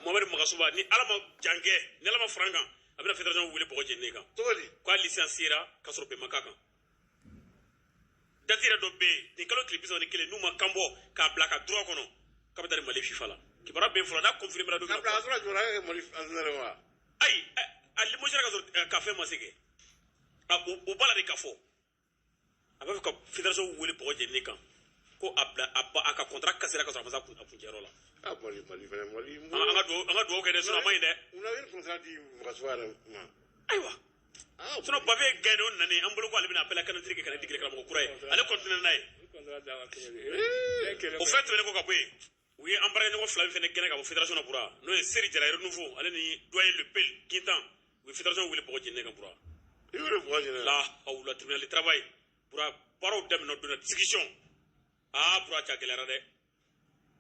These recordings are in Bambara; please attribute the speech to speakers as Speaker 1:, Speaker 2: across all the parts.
Speaker 1: Mohamed Magasuba ni Ala ma jan kɛ ni Ala ma fara an kan a bɛna fédération wele bɔgɔ jeninen kan cogo di k'a licenciera k'a sɔrɔ bɛn ma k'a kan date yɛrɛ dɔ bɛ yen nin kalo tile bi saba ni kelen n'u ma kan bɔ k'a bila a ka droit kɔnɔ k'a bɛ taa ni Mali FIFA la kibaruya bɛ n fɔlɔ n'a confirmera don min na a sɔrɔ kibaruya kɛ Mali entraîneur ye wa ayi a limogera k'a sɔrɔ k'a fɛn ma se kɛ a o o b'a la de k'a fɔ a b'a fɛ ka fédération wele bɔgɔ jeninen kan ko a bila a ba a ka contrat cassera ka sɔrɔ a ma se a kun- a kuncɛyɔrɔ la Ah, Mali, Mali fɛnɛ, Mali. an an ka duwawu an ka duwawu kɛ dɛ sinɔn a ma ɲi dɛ Mun na i bɛ contrat di Magasuba yɛrɛ ma? ayiwa Ah, sinɔn Bavieux y'a gɛn de o nani an bolo ko ale bɛna appel à candidature kɛ ka na degeli karamɔgɔ kura ye ale continuer n'a ye o fɛn tɛmɛnen kɔ ka bɔ yen u ye an baaraɲɔgɔn fila min fana gɛn ka bɔ federation na bura n'o ye seri jara renouveau ale ni doyen le pel kintan u ye federation wele bɔgɔ jeninen kan bura i y'o de bɔgɔ jeninen lahawula tribunal de travail bura baaraw daminɛ donna discussion aa bura cɛ a gɛlɛyara dɛ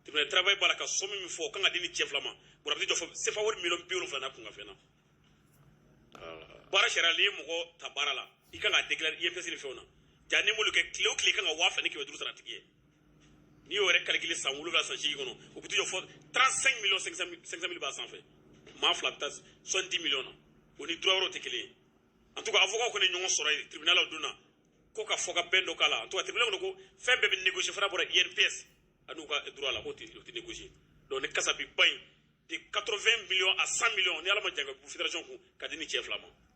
Speaker 1: tribunal de travail b'a la ka somme min fɔ o kan ka di ni cɛ fila ma bura b'i jɔ fɔ sefa wari miliyɔn bi wolonwula n'a kunkanfɛn na baara sariya n'i ye mɔgɔ ta baara la i kan ka déclarer INPS ni fɛnw na ja n'i m'olu kɛ tile o tile i kan ka waa fila ni kɛmɛ duuru sara a tigi ye n'i y'o yɛrɛ calculer san wolonwula san seegin kɔnɔ o bɛ t'i jɔ fɔ 35 miliyɔn 500 mili b'a sanfɛ maa fila bɛ taa 70 miliyɔn na o ni droit wɛrɛw tɛ kelen ye en tout cas avocat kɔni ye ɲɔgɔn sɔrɔ yen tribunal la o don na ko ka fɔkabɛn dɔ k'a la en tout cas tribunal kɔni ko fɛn bɛɛ bɛ négocier fo n'a bɔra INPS ani u ka droit la k'o tɛ o tɛ négocier donc nin kasabi ba in de 80 miliyɔn à 100 miliyɔn ni ala ma jan kɛ fédération kan ka di ni cɛ fila ma